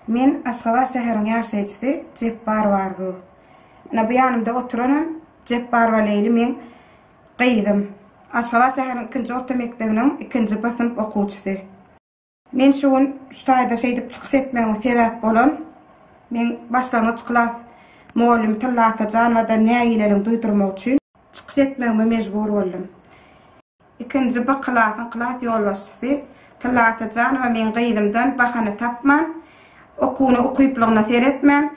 Men Aşgabat şäheriň ýaşaýjysy Jepbarowa Arzuw. Ine bu ýanymda oturanam Jepbarowa Leýli meň gyzym. Aşgabat şäheriniň ikinji orta mekdebiniň ikinji B synp okuwçysy. Men şu gün şu taýda şeýdip çykyş etmegime sebäp bolan meň başlangyç klas mugallym Tylla Atajanowada nägileligiň duýdurmagy üçin çykyş etmegime mejbur boldum. Ikinji B klasyň klas ýolbaşçysy Tylla Atajanowa meň gyzymdan bahana tapman, okuwyna ukyplygyna seretmän,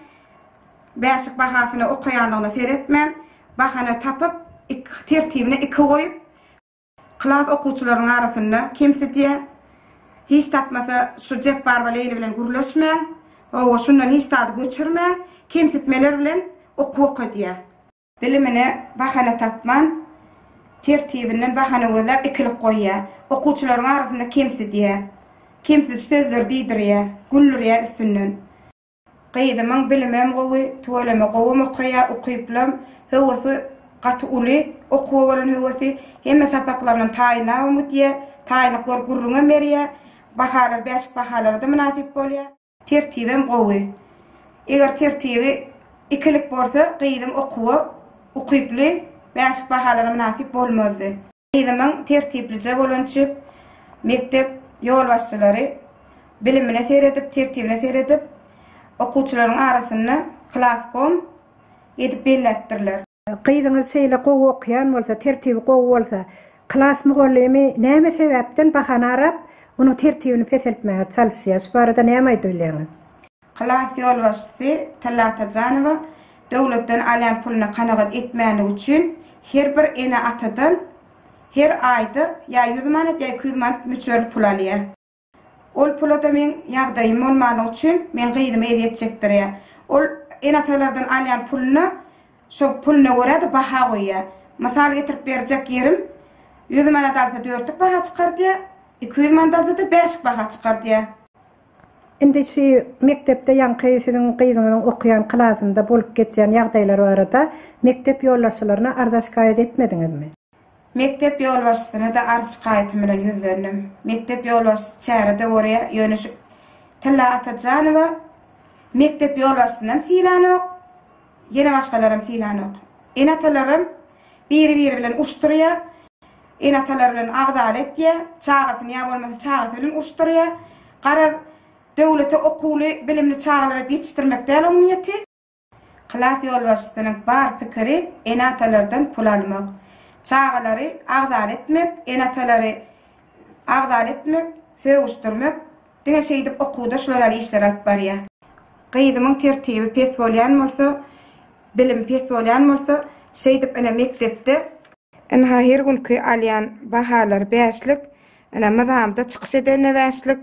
bäşik bahasyna okaýanlygyna seretmän, bahana tapyp, tertibine iki goýup, Klas okuwçylarynyň arasynda kemsidýä. Hiç tapmasa şu Jepbarowa Leýli bilen gürleşmän, hawa, şundan hiç zady göçürmän, kemsitmeler bilen okuw okadýa. Bilimine bahana tapman, tertibinden bahana gözläp ikilik goýýa. Okuwçylaryň arasynda kemsidýä. Kemsidiş sözleri diýdirýä, güldürýä üstünden. Gyzymyň bilimem gowy, tüweleme gowam okaýar, ukyplam, höwesi gaty uly, okuwa bolan höwesi, hemme sapaklaryndan taýynlabam gidýär, taýynlyk görüp gürrüňem berýär, bahalary bäşik bahalara-da mynasyp bolýar. Tertibem gowy. Eger tertibi ikilik bolsa, gyzym okuwa ukyply, bäşik bahalara mynasyp bolmazdy. Yzymyň tertiplije bolan çyp mekdep ýolbaşçylary bilimine seredip, tertibine seredip, okuwçylaryň arasynda klaskom edip belläpdirler. Gyzyňyz şeýle gowy okaýan bolsa, tertibi gowy bolsa, klas mugallymy näme sebäpden bahana arap, onuň tertibini peseltmäge çalyşýar? Şu barada näme aýdyp bilýäňiz? Klas ýolbaşçysy Tylla Atajanowa döwletden alýan puluna kanagat etmänligi üçin her bir ene-atadan her aýda ýa ýüz manat, ýa iki ýüz manat möçberli pul alýar. Ol pula-da meň ýagdaýym bolmanlygy üçin meň gyzymy ezýet çekdirýär. Ol ene-atalardan alýan puluna şo puluna görä-de baha goýýar. Mysal getirip berjek ýerim, ýüz manat alsa dörtlük baha çykardýar, iki ýüz manat alsa-da bäşlik baha çykardýar. Indi şu mekdepde ýaňky siziň gyzyňyzyň okaýan klasynda bolup geçýän ýagdaýlar barada mekdep ýolbaşçylaryna arza-şikaýat etmediňizmi? Mekdep ýolbaşçysyna-da arz-şikaýatym bilen ýüzlendim. Mekdep ýolbaşçysy çäre-de görýä, ýöne şu Tylla Atajanowa mekdep ýolbaşçysynam sylanok. Ýene başgalaram synanok. Ene-atalaram biri-biri bilen urşdurýar. Ene-atalary bilen agzaly etýär. Çagasyny ýa bolmasa çagasy bilen urşdurýar. Garaz, döwlete okuwly, bilimli çagalary ýetişdirmek däl oň niýeti. Klas ýolbaşçysynyň bar pikiri ene-atalardan pul almak. Çagalary agzaly etmek, ene-atalary agzaly etmek, sögüşdirmek, Diňe şeýdip okuwda şular ýaly işler alyp barýa. Gyzymyň tertibi pes bolýan bolsa, bilimi pes bolýan bolsa, şeýdip ine mekdepde, ynha her günki alýan bahalary bäşlik, ine myzamda çykyş edende bäşlik,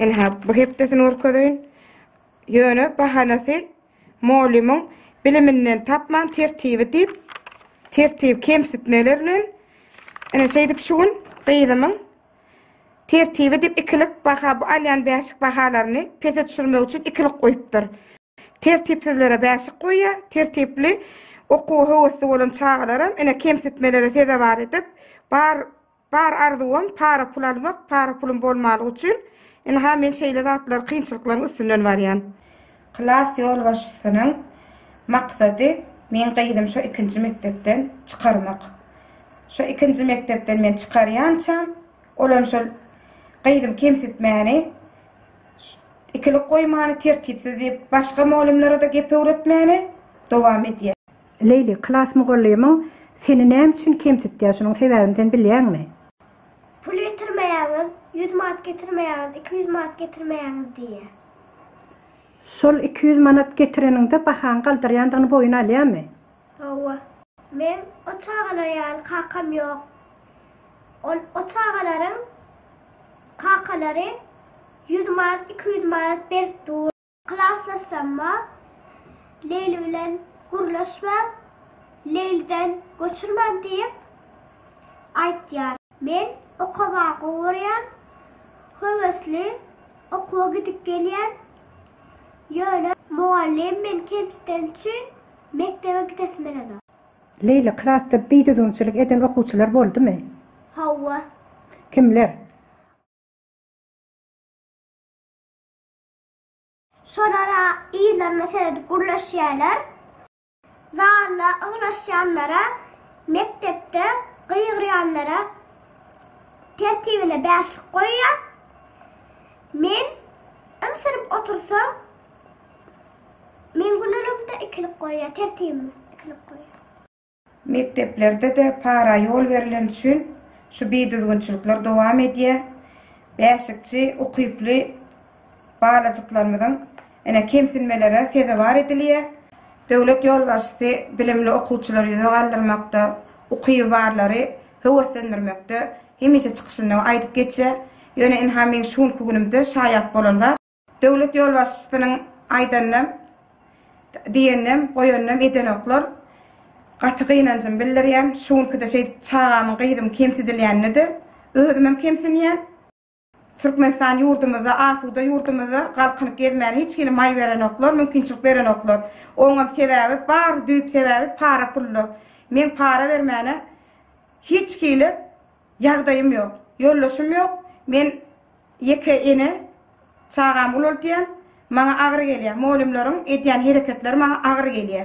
ynha bu hepdesini görkezeýin, ýöne bahanasy molymyň biliminden tapman tertibi diýip, tertibi kemsitmeler bilen, ine şeýdip şu gün gyzymyň Tertibi diýip ikilik baha bu alýan bäşik bahalaryny pese düşürmek üçin ikilik goýupdyr. Tertipsizlere bäşik goýýar, tertipli okuwa höwesli bolan çagalaram ine kemsitmelere sezewar edip, bar bar arzuwym para pul almak, para pulum bolmalyk üçin, ynha men şeýle zatlar kynçylyklaryň üstünden barýan. Klas ýolbaşçysynyň maksady meň gyzym şo ikinji mekdepden çykarmak. Şo ikinji mekdepden men çykarýançam, olam şol gyzym kemsitmäni, ikilik goýmany, tertipsiz diýip, başga mugallymlara-da gep öwretmäni dowam edýär. Leýli, klas mugallymyň seni näme üçin kemsitýär, şunuň sebäbini sen bilýäňmi? Pul ýetirmeýäňiz, ýüz manat getirmeýäňiz, iki ýüz manat getirmeýäňiz diýýär. Şol iki ýüz manat getireniňde bahaň galdyrýandygyny boýun alýamy? Hawa. Meň o çagalar ýaly kakam ýok. Ol o çagalaryň kakalary ýüz manat, iki ýüz manat berip dur. Klasdaşlarym-a Leýli bilen gürleşmäň, Leýliden göçürmäň diýip aýtýar. Men okaba gowurýan, höwesli okuwa gidip gelýän, ýöne mugallym meni kemsiteni üçin mekdebe gidesim gelenok. Leýla, klasda bidüzgünçilik eden okuwçylar boldumy? Hawa. Kimler? Şolar-a yzlaryna seredip gürleşýärler. Zala ygnaşýanlara, mekdepde gygyrýanlara tertibine bäşlik goýýar. Men ymsyryp otursam, meň günlerimde ikilik goýýar, tertibime ikilik goýýar. Mekdeplerde-de para ýol berleni üçin şu bidüzgünçilikler dowam edýär. Bäşlikçi ukyply Balajyklarymyzyň ine kemsinmelere sezewar edilýär. Döwlet ýolbaşçysy bilimli okuwçylary ýüze galdyrmakda, ukyby barlary höweslendirmekde hemişe çykyşynda aýdyp geçýär. Ýöne ynha meň şu günki günümde şaýat bolan zat. Döwlet ýolbaşçysynyň aýdanynam, diýeninem, goýanynam edenoklar. Gaty gynanjymy bildirýän. Şu günkide şeýdip çagamyň, gyzymyň kemsidilýänine-de özümem kemsinýän. Türkmenistan ýurdumyzda asuda ýurdumyzda galkynyp gezmäne hiç hili maý berenoklar mümkinçilik berenoklar oňam sebäbi bar düýp sebäbi para pulda meň para bermäne hiç hili ýagdaýym ýok ýoldaşym ýok men ýeke ene çagamy ulaltýan maňa agyr gelýä molymlaryň edýän hereketleri maňa agyr gelýä.